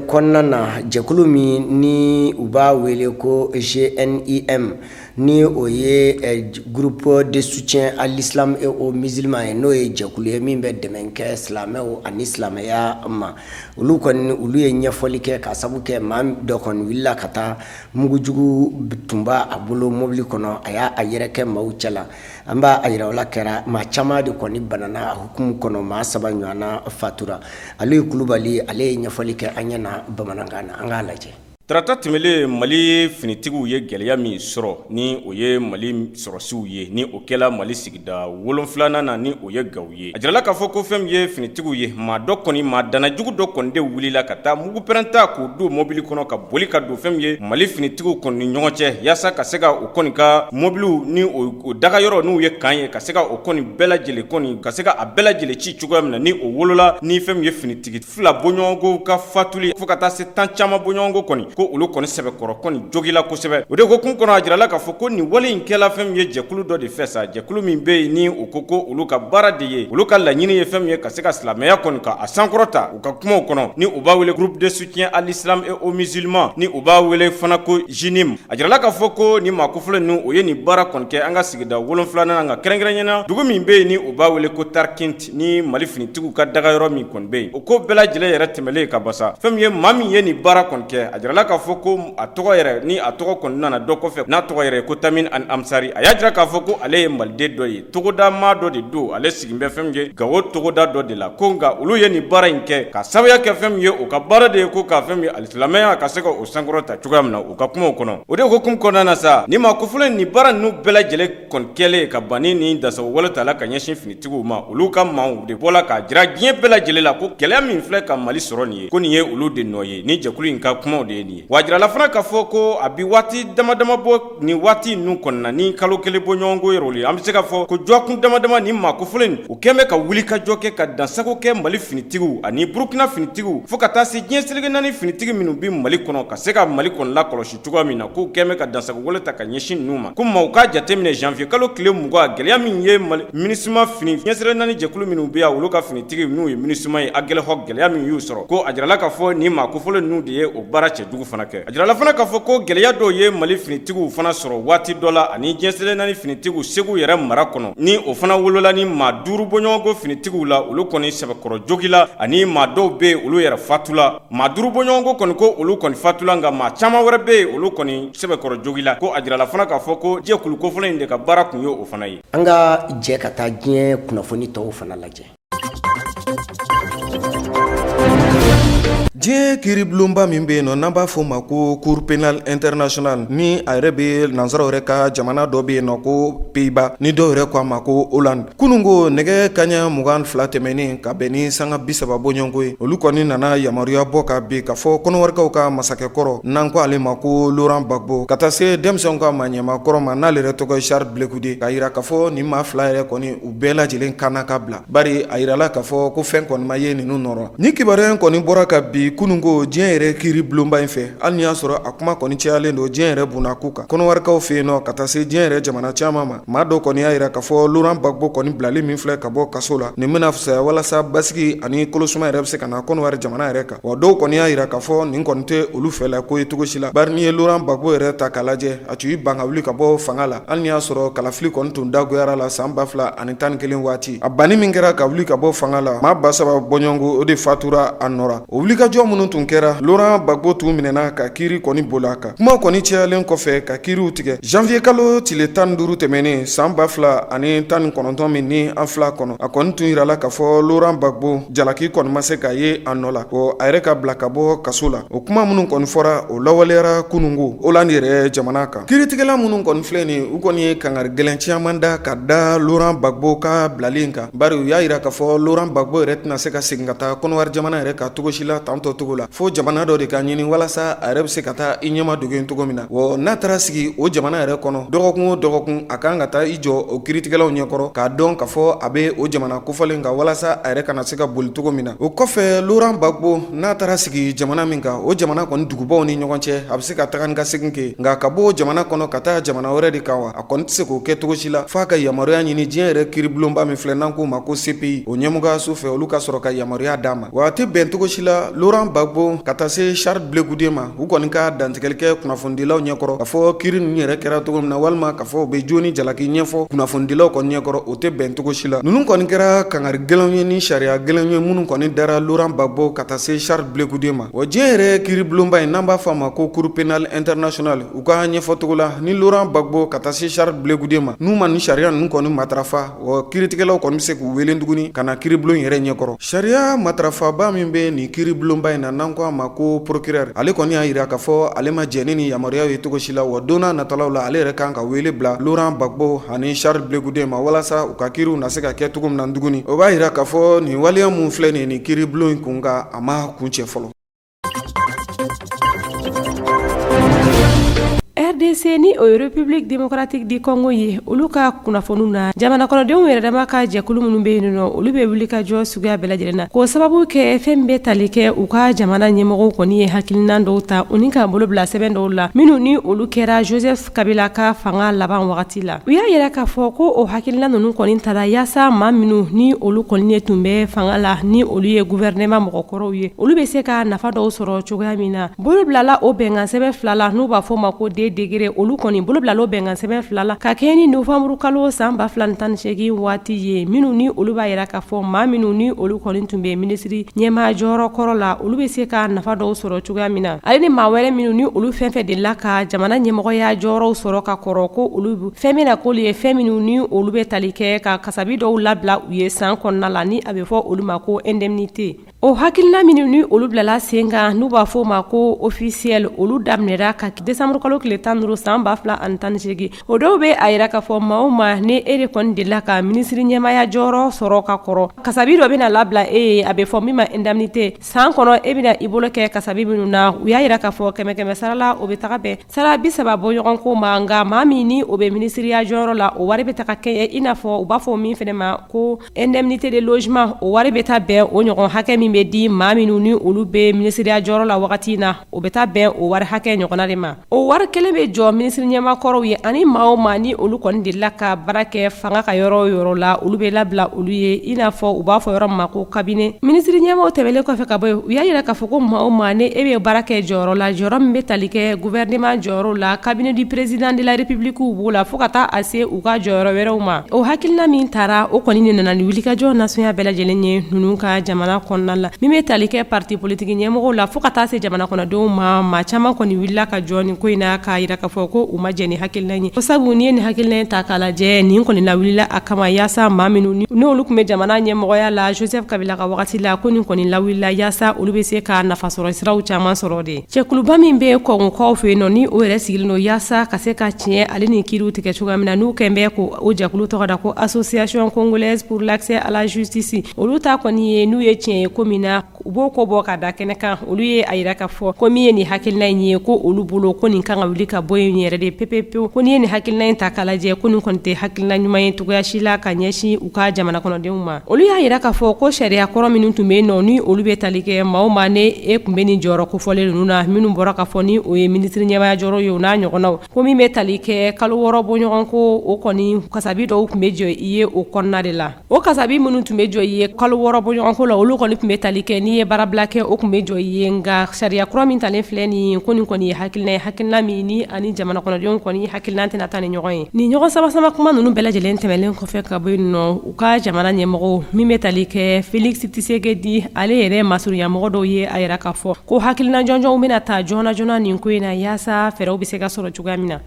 kɔnɔna na jɛkulu min ni u b'a wele ko JNIM ni o ye groupe de soutien à l'islam et aux musulmans ye n'o ye jɛkulu ye min bɛ dɛmɛ kɛ silamɛw ani silamɛya ma olu kɔni olu ye ɲɛfɔli kɛ k'a sabu kɛ maa dɔ kɔni wulila ka taa mugujugu tun b'a bolo mobili kɔnɔ a y'a yɛrɛ kɛ maaw cɛla an b'a a yira o la kɛra maa caman de kɔni banana a hukumu kɔnɔ maa saba ɲɔgɔnna fatura Aliyu Kulubali ale ye ɲɛfɔli kɛ an ɲɛ na bamanankan na an k'a lajɛ tarata tɛmɛlen mali finitigiw ye gwɛlɛya min sɔrɔ ni o ye mali sɔrɔsiw ye ni o kɛla mali sigida wolonfilanan na ni o ye gawo ye a jirala k'a fɔ ko fɛn min ye finitigiw ye maa dɔ kɔni maa danajugu dɔ kɔni de wulila ka taa mugu pɛrɛnta k'o don mobili kɔnɔ ka boli ka don fɛn min ye mali finitigiw kɔni ni ɲɔgɔn cɛ yaasa ka se ka u kɔni ka mobiliw ni u dagayɔrɔ n'o ye kan ye ka se ka o kɔni bɛɛ lajɛlen kɔni ka se ka a bɛɛ lajɛlen ci cogoya min na ni o wolola ni fɛn min ye finitigi fila bɔɲɔgɔnko ka fatuli fo ka taa se tan caman bɔɲɔgɔnko kɔni ko olu kɔni sɛbɛkɔrɔ kɔni jogila kosɛbɛ o de hukumu kɔnɔ a jirala k'a fɔ ko nin wale in kɛla fɛn min ye jɛkulu dɔ de fɛ sa jɛkulu min bɛ yen ni u ko ko olu ka baara de ye olu ka laɲini ye fɛn min ye ka se ka silamɛya kɔni ka a sankɔrɔta u ka kumaw kɔnɔ ni u b'a wele groupe de soutien à l'islam et aux musulmans ni u b'a wele fana ko JNIM a jirala k'a fɔ ko nin maa kofɔlen ninnu u ye nin baara kɔni kɛ an ka sigida wolonfilanan na nka kɛrɛnkɛrɛnnenya na dugu min bɛ yen ni u b'a wele ko Tarkinti ni mali finitigiw ka daga yɔrɔ min kɔni bɛ yen o ko bɛɛ lajɛlen yɛrɛ tɛmɛnlen ka ban sa fɛn min ye maa min ye nin baara kɔni kɛ a jirala k'a fɔ ko a tɔgɔ yɛrɛ ni a tɔgɔ kɔni nana dɔn kɔfɛ n'a tɔgɔ yɛrɛ ko Tamim al Ansari a y'a jira k'a fɔ ko ale ye maliden dɔ ye togoda maa dɔ de don ale sigilen bɛ fɛn min ye gawo togoda dɔ de la ko nka olu ye nin baara in kɛ k'a sababuya kɛ fɛn min ye u ka baara de ye ko ka fɛn min ye alisilamɛya ka se ka o sankɔrɔta cogoya min na u ka kumaw kɔnɔ o de hukumu kɔnɔna na sa ni maa kofɔlen nin baara ninnu bɛɛ lajɛlen kɔni kɛlen ka ban ni dansago wale tala ka ɲɛsin finitigiw ma olu ka maaw de bɔla k'a jira diɲɛ bɛɛ lajɛlen la ko gɛlɛya min filɛ ka mali sɔrɔ nin ye ko nin ye olu de nɔ ye ni jɛkulu in ka kumaw de ye nin ye wa a jirala fana k'a fɔ ko a bɛ waati dama dama bɔ nin waati ninnu kɔnɔna ni kalo kelen bɔɲɔgɔnko yɛrɛ ye an bɛ se k'a fɔ ko dɔgɔkun dama dama ni maa kofɔlenw kɛlen bɛ ka wulikajɔ kɛ ka dansago kɛ mali finitigiw ani burukina finitigiw fo ka taa se diɲɛ seleke naani finitigi minnu bɛ mali kɔnɔ ka se ka mali kɔnɔ la kɔlɔsi cogoya min na k'u kɛlen bɛ ka dansago wale ta ka ɲɛsin ninnu ma ko maaw k'a jateminɛ janvier kalo tile mugan gɛlɛya min ye Mali Minusima fini diɲɛ seleke naani jɛkulu minnu bɛ yan olu ka finitigiw n'u ye Minusima ye Aguelhok gɛlɛya min y'u sɔrɔ ko a jirala k'a fɔ nin maa kofɔlen ninnu de ye o baara cɛjugu fana kɛ a jirala fana k'a fɔ ko gɛlɛya dɔw ye Mali finitigiw fana sɔrɔ waati dɔ la ani diɲɛ seleke naani finitigiw Segu yɛrɛ mara kɔnɔ ni o fana wolola ni maa duuru bɔɲɔgɔnko finitigiw la olu kɔni sɛbɛkɔrɔ jogila ani maa dɔw bɛ yen olu yɛrɛ fatula maa duuru bɔɲɔgɔnko kɔni ko olu kɔni fatula nka maa caman wɛrɛ bɛ yen olu kɔni sɛbɛkɔrɔ jogila ko a jirala fana k'a fɔ ko jɛkulu kofɔlen in de ka baara tun ye o fana ye an ka jɛ ka taa diɲɛ kunnafoni tɔw fana lajɛ diɲɛ kiiribulonba min bɛ yen nɔ n'an b'a fɔ o ma ko cour pénale internationale ni a yɛrɛ bɛ nansaraw yɛrɛ ka jamana dɔ bɛ yen nɔ ko Pays-Bas ni dɔw yɛrɛ k'a ma ko Hollande Kununko nɛgɛ kaɲɛ mugan ni fila tɛmɛnen ka bɛn ni sanga bi saba bɔɲɔgɔnko ye olu kɔni nana yamaruya bɔ ka bin ka fɔ kɔnɔwarikaw ka masakɛkɔrɔ n'an ko ale ma ko laurent gbagbo ka taa se denmisɛnw ka maa ɲɛmaa kɔrɔ ma n'ale yɛrɛ tɔgɔ ye charles blé goudé k'a jira k'a fɔ nin maa fila yɛrɛ kɔni u bɛɛ lajɛlen kan ka bila bari a jirala k'a fɔ ko fɛn kɔni ma ye ninnu nɔ rɔ ni kibaruya in kɔni bɔra kabi kununko diɲɛ yɛrɛ kiri bulonba in fɛ hali n'i y'a sɔrɔ a kuma kɔni cayalen don diɲɛ yɛrɛ kun n'a ku kan kɔnɔwarikaw fɛ yen nɔ ka taa se diɲɛ yɛrɛ jamana caman ma Maa dɔw kɔni y'a jira k'a fɔ laurent gbagbo kɔni bilali min filɛ ka bɔ kaso la, nin bɛna fisaya walasa basigi ani kolosuma yɛrɛ bɛ se ka na kɔnɔwari jamana yɛrɛ kan, wa dɔw kɔni y'a jira k'a fɔ nin kɔni tɛ olu fɛla ko ye cogo si la, bari n'i ye laurent gbagbo yɛrɛ ta k'a lajɛ, a tun y'i ban ka wuli ka bɔ fanga la, hali n'i y'a sɔrɔ kalafili kɔni tun dagoyara la san 2011 waati, a banni min kɛra ka wuli ka bɔ fanga la, maa 3000 bɔɲɔgɔnko o de fatura a nɔ la. O wulikajɔ minnu tun kɛra laurent gbagbo tun minɛna ka kiri kɔni boli a kan, kuma kɔni cayalen kɔfɛ ka kiriw tigɛ janvier kalo tile 15 tɛmɛnen san 2019 min ni an filɛ a kɔnɔ, a kɔni tun jirala k'a fɔ laurent gbagbo jalaki kɔni ma se ka ye a nɔ la, ko a yɛrɛ ka bila ka bɔ kaso la. O kuma minnu kɔni fɔra, o lawaleyara kununko Hollande yɛrɛ jamana kan. Kiritigɛla minnu kɔni filɛ nin ye, u kɔni ye kangari gɛlɛn caman da ka da laurent gbagbo ka bilali in kan. Bari u y'a yira k'a fɔ Laurent Gbagbo yɛrɛ tɛna se ka segin ka taa Côte d'Ivoire jamana yɛrɛ kan cogo si la tan tɔ cogo la, fo jamana dɔ de ka ɲini walasa a yɛrɛ bɛ se ka taa i ɲɛma dogo yen cogo min na, wa n'a taara sigi o jamana yɛrɛ kɔnɔ dɔgɔkun o dɔgɔkun, a ka kan ka taa i jɔ o kiritigɛlaw ɲɛ kɔrɔ k'a dɔn k'a fɔ a bɛ o jamana kofɔlen kan walasa a yɛrɛ kana se ka boli cogo min na. O kɔfɛ Laurent Gbagbo n'a taara sigi jamana min kan, o jamana kɔni dugubaw ni ɲɔgɔn cɛ, a bɛ se ka taga ni ka segin kɛ yen, nka ka bɔ o jamana kɔnɔ ka taa jamana wɛrɛ de kan wa? a kɔni tɛ se k'o kɛ cogo si la f'a ka yamaruya ɲini diɲɛ yɛrɛ kiiribulonba min filɛ n'an k'o ma ko CPI o ɲɛmɔgɔyaso fɛ olu ka sɔrɔ ka yamaruya d'a ma wa a tɛ bɛn cogo si la Laurent Gbagbo ka taa se Charles Blé Goudé ma u kɔni ka dantigɛli kɛ kunnafonidilaw ɲɛkɔrɔ k'a fɔ kiiri ninnu yɛrɛ kɛra cogo min na walima k'a fɔ u bɛ jo ni jalaki ɲɛfɔ kunnafonidilaw kɔni ɲɛkɔrɔ o tɛ bɛn cogo si la ninnu kɔni kɛra kankari gɛlɛnw ye ni sariya gɛlɛnw ye minnu kɔni dara Laurent Gbagbo ka taa se Charles Blé Goudé ma wa diɲɛ yɛrɛ kiiribulonba in n'an b'a fɔ a ma ko Cour pénale internationale U ka ɲɛfɔcogo la ni Laurent Gbagbo ka taa se Charles Blé Goudé ma n'u ma nin sariya ninnu kɔni matarafa o kiiritigɛlaw kɔni bɛ se k'u wele tuguni ka na kiiribulon yɛrɛ ɲɛkɔrɔ sariya matarafaba min bɛ nin kiiribulonba in na n'an ko a ma ko procureur ale kɔni y'a yira k'a fɔ ale ma jɛn ni nin yamaruya ye cogo si la wa don natalaw la ale yɛrɛ kan ka wele bila Laurent Gbagbo ani Charles Blé Goudé ma walasa u ka kiiriw na se ka kɛ cogo min na tuguni o b'a yira k'a fɔ nin waleya minnu filɛ nin ye nin kiiribulon in kunkan a ma kuncɛ fɔlɔ RDC ni o ye République démocratique du Congo ye olu ka kunnafoniw na jamana kɔnɔdenw yɛrɛ dama ka jɛkulu minnu bɛ yen nɔ olu bɛ wulikajɔ suguya bɛɛ lajɛlen na k'o sababu kɛ fɛn bɛ tali kɛ u ka jamana ɲɛmɔgɔw kɔni ye hakilinan dɔw ta u ni ka bolo bila sɛbɛn dɔw la minnu ni olu kɛra Joseph Kabila ka fanga laban wagati la u y'a yira k'a fɔ ko o hakilina ninnu kɔni tara yaasa maa minnu ni olu kɔni ye tun bɛ fanga la ni olu ye gouvernement mɔgɔkɔrɔw ye olu bɛ se ka nafa dɔw sɔrɔ cogoya min na bolo bilala o bɛnkansɛbɛn fila la n'u b'a fɔ ma ko deux décrets olu kɔni bolo bilala o bɛnkansɛbɛn fila la ka kɛɲɛ ni nowanburukalo san ba fila ni tan ni segin waati ye minnu ni olu b'a yira k'a fɔ maa minnu ni olu kɔni tun bɛ minisiri ɲɛmaa jɔyɔrɔ kɔrɔ la olu bɛ se ka nafa dɔw sɔrɔ cogoya min na Ale ni maa wɛrɛ minnu ni olu fɛn fɛn delila ka jamana ɲɛmɔgɔya jɔyɔrɔw sɔrɔ ka kɔrɔ ko olu fɛn bɛna k'olu ye fɛn minnu ni olu bɛ tali kɛ ka kasabi dɔw labila u ye san kɔnɔna la ni a bɛ fɔ olu ma ko indemnité o hakilina minnu ni olu bilala sen kan n'u b'a fɔ o ma ko officiel olu daminɛra ka desanburukalo tile tan ni duuru san ba fila ani tan ni segin o dɔw bɛ a yira k'a fɔ maa o maa ni e de kɔni delila ka minisiri ɲɛmaaya jɔyɔrɔ sɔrɔ ka kɔrɔ kasabi dɔ bɛna labila e ye a bɛ fɔ min ma indemnité san kɔnɔ e bɛna i bolo kɛ kasabi minnu na u y'a yira k'a fɔ kɛmɛ kɛmɛ sarala o bɛ taga bɛn sara bi saba bɔ ɲɔgɔn ko ma nka maa min ni o bɛ minisiriya jɔyɔrɔ la o wari bɛ taga kɛɲɛ i n'a fɔ u b'a fɔ min fɛnɛ ma ko indemnité de logement o wari bɛ taa bɛn o ɲɔgɔn hakɛ min bɛ di maa minnu ni olu bɛ minisiriya jɔyɔrɔ la wagati in na o bɛ taa bɛn o wari hakɛ ɲɔgɔn de ma O wari kelen bɛ jɔ minisiri ɲɛmakɔrɔw ye ani maa o maa ni olu kɔni delila ka baara kɛ fanga ka yɔrɔ o yɔrɔ la olu bɛ labila olu ye i n'a fɔ u b'a fɔ yɔrɔ min ma ko cabinet minisiri ɲɛmaw tɛmɛnen kɔfɛ ka bɔ yen u y'a jira k'a fɔ ko maa o maa ni e bɛ baara kɛ jɔyɔrɔ la jɔyɔrɔ min bɛ tali kɛ gouvernement jɔyɔrɔ la cabinet du président de la république b'o la fo ka taa a se u ka jɔyɔrɔ wɛrɛw ma o hakilina min tara o kɔni de nana ni wulikajɔ nasɔnya bɛɛ lajɛlen ye ninnu ka jamana kɔnɔna la min bɛ tali kɛ parti politique ɲɛmɔgɔw la fo ka taa se jamana kɔnɔdenw ma maa caman kɔni wulila ka jɔ nin ko in na k'a jira k'a fɔ ko u ma jɛn ni hakilina in ye ko sabu n'i ye nin hakilina in ta k'a lajɛ nin kɔni lawulila a kama yaasa maa minnu ni olu tun bɛ jamana ɲɛmɔgɔya la Joseph Kabila ka wagati la ko nin kɔni lawulila yaasa olu bɛ se ka nafasɔrɔ siraw caman sɔrɔ de jɛkuluba min bɛ Kongokaw fɛ yen nɔ ni o yɛrɛ sigilen don yaasa ka se ka tiɲɛ ale ni kiriw tigɛ cogoya min na n'u kɛnbɛ ko o jɛkulu tɔgɔ da ko association congolaise pour l'accès à la justice olu ta kɔni ye n'u ye tiɲɛ ye ko min na u b'o ko bɔ ka da kɛnɛ kan olu ye a jira k'a fɔ ko min ye nin hakilina in ye ko olu bolo ko nin kan ka wuli ka bɔ yen yɛrɛ de pepepewu ko n'i ye nin hakilina in ta k'a lajɛ ko nin kɔni tɛ hakilina ɲuman ye cogoya si la ka ɲɛsin u ka jamana kɔnɔdenw ma olu y'a jira k'a fɔ ko sariya kɔrɔ minnu tun bɛ yen nɔ ni olu bɛ tali kɛ maa o maa ne e tun bɛ nin jɔyɔrɔ kofɔlen ninnu na minnu bɔra ka fɔ ni o ye minisiri ɲɛmaya jɔyɔrɔ ye o n'a ɲɔgɔnnaw ko min bɛ tali kɛ kalo wɔɔrɔ bɔɲɔgɔnko o kɔni kasabi dɔw tun bɛ jɔ i ye o kɔnɔna de la O kasabi minnu tun bɛ jɔ i ye kalo wɔɔrɔ bɔɲɔgɔnko la olu kɔni tun bɛ tali kɛ n'i ye baarabila kɛ o tun bɛ jɔ i ye nka sariya kura min talen filɛ nin ye ko nin kɔni ye hakilina ye hakilina min ni ani jamana kɔnɔdenw kɔni hakilina tɛna taa ni ɲɔgɔn ye nin ɲɔgɔn samasama kuma ninnu bɛɛ lajɛlen tɛmɛlen kɔfɛ ka bɔ yen nɔ u ka jamana ɲɛmɔgɔ min bɛ tali kɛ Felix Tshisekedi ale yɛrɛ masurunyamɔgɔ dɔw ye a jira k'a fɔ ko hakilina jɔnjɔnw bɛna ta joona joona nin ko in na yaasa fɛɛrɛw bɛ se ka sɔrɔ cogoya min na.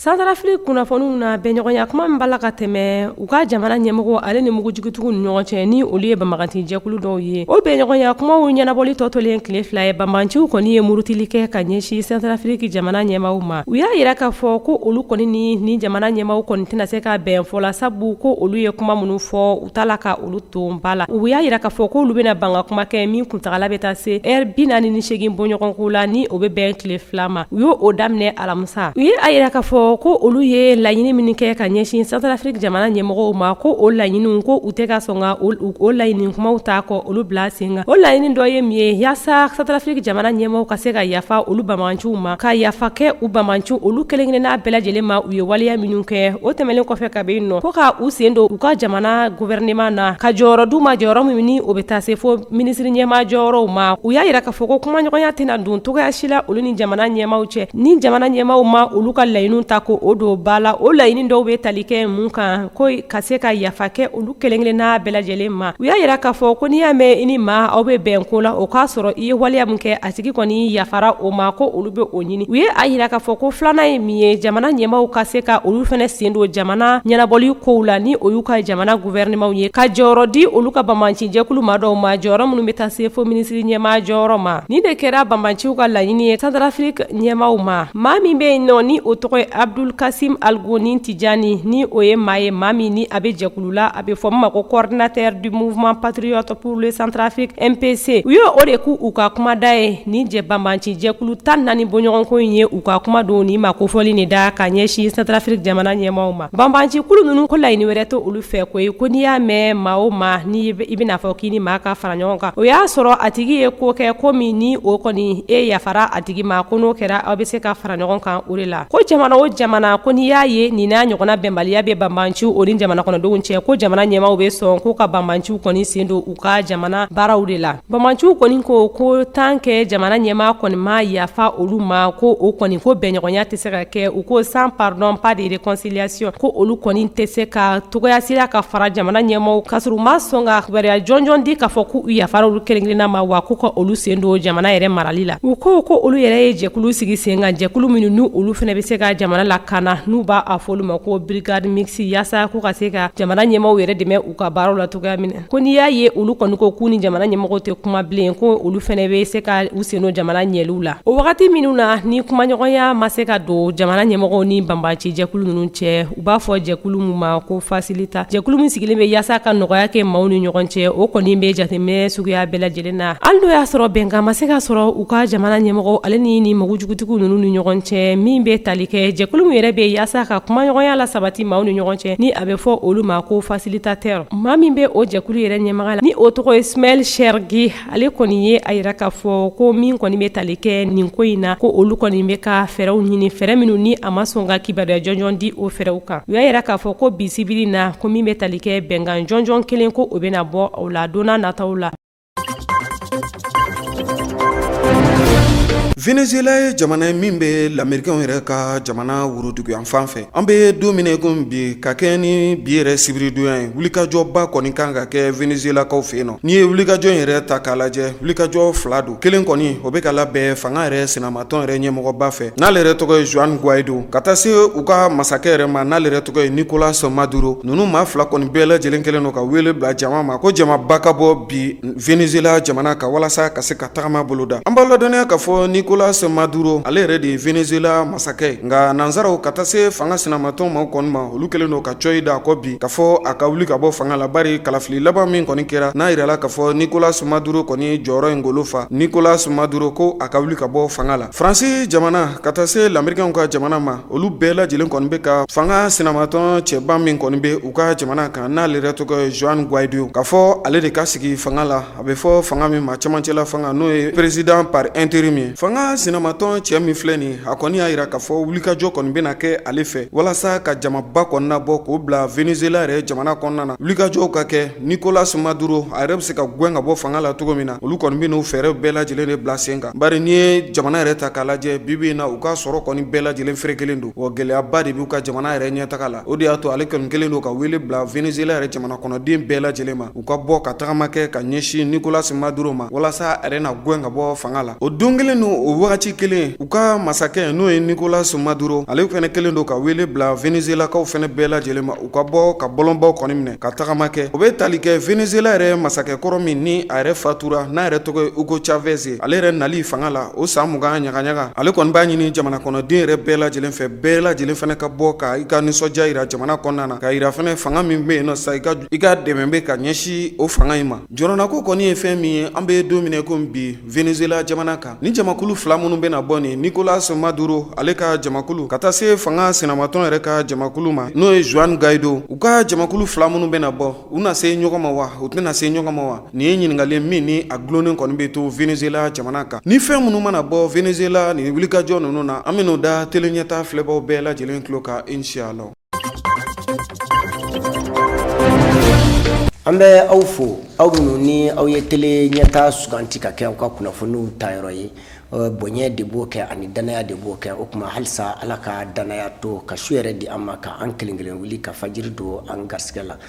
Centrafrique kunnafoniw na bɛnɲɔgɔnya kuma min b'a la ka tɛmɛ u ka jamana ɲɛmɔgɔ ale ni mugujugutigiw ni ɲɔgɔn cɛ ni olu ye banbaganci jɛkulu dɔw ye o bɛnɲɔgɔnya kumaw ɲɛnabɔli tɔ tolen tile fila ye banbaganciw kɔni ye murutili kɛ ka ɲɛsin Centrafrique jamana ɲɛmaw ma u y'a jira k'a fɔ ko olu kɔni ni ni jamana ɲɛmaaw kɔni tɛna se ka bɛn fɔ la sabu ko olu ye kuma minnu fɔ taa la ka olu ton ba la u y'a jira k'a fɔ k'olu bɛna ban ka kuma kɛ min kuntaala bɛ taa se heure bi naani ni segin bɔɲɔgɔnko la ni o bɛ bɛn tile fila ma u y'o daminɛ alamisa u ye a jira k'a fɔ ko olu ye laɲini minnu kɛ ka ɲɛsin Centrafrique jamana ɲɛmɔgɔw ma ko o laɲiniw ko u tɛ ka sɔn ka o laɲini kumaw ta ka olu bila sen kan o laɲini dɔ ye min ye yaasa Centrafrique jamana ɲɛmɔgɔw ka se ka yafa olu banbaganciw ma ka yafa kɛ u banbaganciw olu kelenkelenna bɛɛ lajɛlen ma u ye waleya minnu kɛ o tɛmɛnen kɔfɛ A bɛ nɔ ko k' u sen don u ka jamana gouvernement na ka jɔyɔrɔ d'u ma jɔyɔrɔ min ni o bɛ taa se fo minisiri ɲɛma jɔyɔrɔw ma u y'a jira k'a fɔ ko kumaɲɔgɔnya tɛna don cogoya si la olu ni jamana ɲɛmaw cɛ ni jamana ɲɛmaw ma olu ka laɲini ta ko o don ba la o laɲini dɔw bɛ tali kɛ mun kan ko ka se ka yafa kɛ olu kelenkelenna bɛɛ lajɛlen ma u y'a jira k'a fɔ ko n'i y'a mɛn i ni maa aw bɛ bɛn ko la o k'a sɔrɔ i ye waleya min kɛ a tigi kɔni yafara o ma ko olu bɛ o ɲɛ u ye a jira k'a fɔ ko filanan ye min ye jamana ɲɛmaw ka se ka olu fana sen don jamana ɲɛnabɔli kow la ni o y'u ka jamana gouvernement ye ka jɔyɔrɔ di olu ka banbancijɛkulu maa dɔw ma jɔyɔrɔ minnu bɛ taa se fo minisiri ɲɛmaa jɔyɔrɔ ma nin de kɛra banbanciw ka laɲini ye Centrafrique ɲɛmaaw ma maa min bɛ yen nɔ ni o tɔgɔ ye Abdul Kasim Algoni Tijani ni o ye maa ye maa min ni a bɛ jɛkulu la a bɛ fɔ min ma ko coordinateur du mouvement patriote pour le Centrafrique MPC u ye o de k'u ka kumada ye Nin jɛ banbancijɛkulu tan ni naani bɔɲɔgɔnko in ye u ka kuma don nin makofɔli nin da ka ɲɛsin Centrafrique jamana ɲɛmaw ma banbancikulu ninnu ko laɲini wɛrɛ tɛ olu fɛ koyi ko n'i y'a mɛn maa o maa ni i bɛn'a fɔ k'i ni maa ka fara ɲɔgɔn kan o y'a sɔrɔ a tigi ye ko kɛ ko min ni o kɔni e yafara a tigi ma ko n'o kɛra aw bɛ se ka fara ɲɔgɔn kan o de la ko jamana o jamana ko n'i y'a ye nin n'a ɲɔgɔnna bɛnbaliya bɛ banbanciw o ni jamana kɔnɔdenw cɛ ko jamana ɲɛmaaw bɛ sɔn k'u ka banbanciw kɔni sen don u ka jamana baaraw de la Banbanciw kɔni ko ko tant que jamana ɲɛmaa kɔni ma yafa olu ma ko o kɔni ko bɛnɲɔgɔnya tɛ se ka kɛ u ko sans pardon pas de réconciliation ko olu kɔni tɛ se ka cogoya si la ka fara jamana ɲɛmaw ka sɔrɔ u ma sɔn ka kibaruya jɔnjɔn di k'a fɔ k'u yafara olu kelen-kelenna ma wa k'u ka olu sen don jamana yɛrɛ marali la u ko ko olu yɛrɛ ye jɛkulu sigi sen kan jɛkulu minnu n' olu fana bɛ se ka jamana lakana n'u b'a fɔ olu ma ko brigade mixte yaasa k'u ka se ka jamana ɲɛmaaw yɛrɛ dɛmɛ u ka baaraw la cogoya min na Ko n'i y'a ye olu kɔni ko k'u ni jamana ɲɛmɔgɔw tɛ kuma bilen ko olu fana bɛ se ka u sen don jamana ɲɛliw la o wagati minnu na ni kumaɲɔgɔnya ma se ka don jamana ɲɛmɔgɔw ni banbancijɛkulu ninnu cɛ u b'a fɔ jɛkulu min ma ko facilita jɛkulu min sigilen bɛ yaasa ka nɔgɔya kɛ maaw ni ɲɔgɔn cɛ o kɔni bɛ jateminɛ suguya bɛɛ lajɛlen na hali n'o y'a sɔrɔ bɛnkan ma se ka sɔrɔ u ka jamana ɲɛmɔgɔ ale ni ni mugujugutigiw ninnu ni ɲɔgɔn cɛ min bɛ tali kɛ jɛkulu min yɛrɛ bɛ yaasa ka kumaɲɔgɔnya lasabati maaw ni ɲɔgɔn cɛ ni a bɛ fɔ olu ma ko facilitateur Maa min bɛ o jɛkulu yɛrɛ ɲɛmaga la ni o tɔgɔ ye Smaïl Chergui ale kɔni ye a jira k'a fɔ ko min kɔni bɛ tali kɛ nin ko in na ko olu kɔni bɛ ka fɛɛrɛw ɲini fɛɛrɛ minnu ni a ma sɔn ka kibaruya jɔnjɔn di o fɛɛrɛw kan u y'a jira k'a fɔ ko bi sibiri in na ko min bɛ tali kɛ bɛnkan jɔnjɔn kelen ko o bɛna bɔ o la don na nataw la. Venezuela ye jamana ye min bɛ lamɛrikan yɛrɛ ka jamana woroduguyan fan fɛ an bɛ don min na ko bi ka kɛɲɛ ni bi yɛrɛ sibiridon ye wulikajɔba kɔni kan ka kɛ venezuelakaw fɛ yen nɔ n'i ye wulikajɔ yɛrɛ ta k'a lajɛ wulikajɔ fila don kelen kɔni o bɛ ka labɛn fanga yɛrɛ sinama tɔn yɛrɛ ɲɛmɔgɔba fɛ n'ale yɛrɛ tɔgɔ ye Juan Guaido ka taa se u ka masakɛ yɛrɛ ma n'ale yɛrɛ tɔgɔ ye Nicolas Maduro ninnu maa fila kɔni bɛɛ lajɛlen kelen don ka weele bila jama ma ko jamaba ka bɔ bi Venezuela jamana kan walasa ka se ka tagama boloda an b'aw ladɔnniya k'a fɔ Nicolas Maduro ale yɛrɛ de ye Venezuela masakɛ ye nka nansaraw ka taa se fanga sinamatɔn ma kɔni ma olu kelen don ka coyi da a kɔ bi k'a fɔ a ka wuli ka bɔ fanga la bari kalafili laban min kɔni kɛra n'a jirala k'a fɔ Nicolas Maduro kɔni jɔyɔrɔ in golo fa Nicolas Maduro ko a ka wuli ka bɔ fanga la faransi jamana ka taa se lamerikɛnw ka jamana ma olu bɛɛ lajɛlen kɔni bɛ ka fanga sinamatɔn cɛba min kɔni bɛ u ka jamana kan n'ale yɛrɛ tɔgɔ ye Juan Guaido k'a fɔ ale de ka sigi fanga la A bɛ fɔ fanga min ma cɛmancɛla fanga n'o ye président par intérim ye fanga sinamatɔn cɛ min filɛ nin a kɔni y'a jira k'a fɔ wulikajɔ kɔni bɛna kɛ ale fɛ walasa ka jamaba kɔni nabɔ k'o bila Venezuela yɛrɛ jamana kɔnɔna na wulikajɔw ka kɛ Nicolas Maduro a yɛrɛ bɛ se ka gɛn ka bɔ fanga la cogo min na olu kɔni bɛn'o fɛɛrɛw bɛɛ lajɛlen de bila sen kan bari n'i ye jamana yɛrɛ ta k'a lajɛ bibi in na u ka sɔrɔ kɔni bɛɛ lajɛlen ferekelen don wa gɛlɛyaba de b'u ka jamana yɛrɛ ɲɛ taga la o de y'a to ale kɔni kelen don ka wele bila Venezuela yɛrɛ jamana kɔnɔden bɛɛ lajɛlen ma u ka bɔ ka tagama kɛ ka ɲɛsin Nicolas Maduro ma walasa a yɛrɛ na gɛn ka bɔ fanga la o don kelen ni o wagati kelen u ka masakɛ n'o ye Nicolas Maduro ale fana kelen don ka wele bila Venezuelakaw fana bɛɛ lajɛlen ma u ka bɔ ka bɔlɔnbaw kɔni minɛ ka tagama kɛ o bɛ tali kɛ Venezuela yɛrɛ masakɛ kɔrɔ min ni a yɛrɛ fatura n'a yɛrɛ tɔgɔ ye Hugo Chavez ye ale yɛrɛ nali fanga la o san mugan ɲagaɲaga ale kɔni b'a ɲini jamana kɔnɔden yɛrɛ bɛɛ lajɛlen fɛ bɛɛ lajɛlen fana ka bɔ ka i ka nisɔndiya jira jamana kɔnɔna na k'a jira fana fanga min bɛ yen sa i ka i ka dɛmɛ bɛ ka ɲɛsin o fanga in ma jɔrɔnako kɔni ye fɛn min ye an bɛ don min na i ko bi Venezuela jamana kan ni jamakulu fila minnu bɛna bɔ ni Nicolas Maduro ale ka jamakulu ka taa se fanga sinamatɔn yɛrɛ ka jamakulu ma n'o ye Juan Guaido u ka jamakulu fila minnu bɛna bɔ u na se ɲɔgɔn ma wa u tɛna se ɲɔgɔn ma wa nin ye ɲininkali min ni a dulonnen kɔni bɛ to Venezuela jamana kan ni fɛn minnu mana bɔ Venezuela nin wulikajɔ ninnu na an bɛn'o da tele ɲɛta filɛbaw bɛɛ lajɛlen tulo kan inshallah An bɛ aw fo aw minnu ni aw ye tele ɲɛta suganti ka kɛ aw ka kunnafoniw tayɔrɔ ye bonya de b'o kɛ ani danaya de b'o kɛ o tuma halisa ala ka danaya to ka su hɛrɛ di an ma ka an kelen kelen wuli ka fajiri don an garisɛgɛ la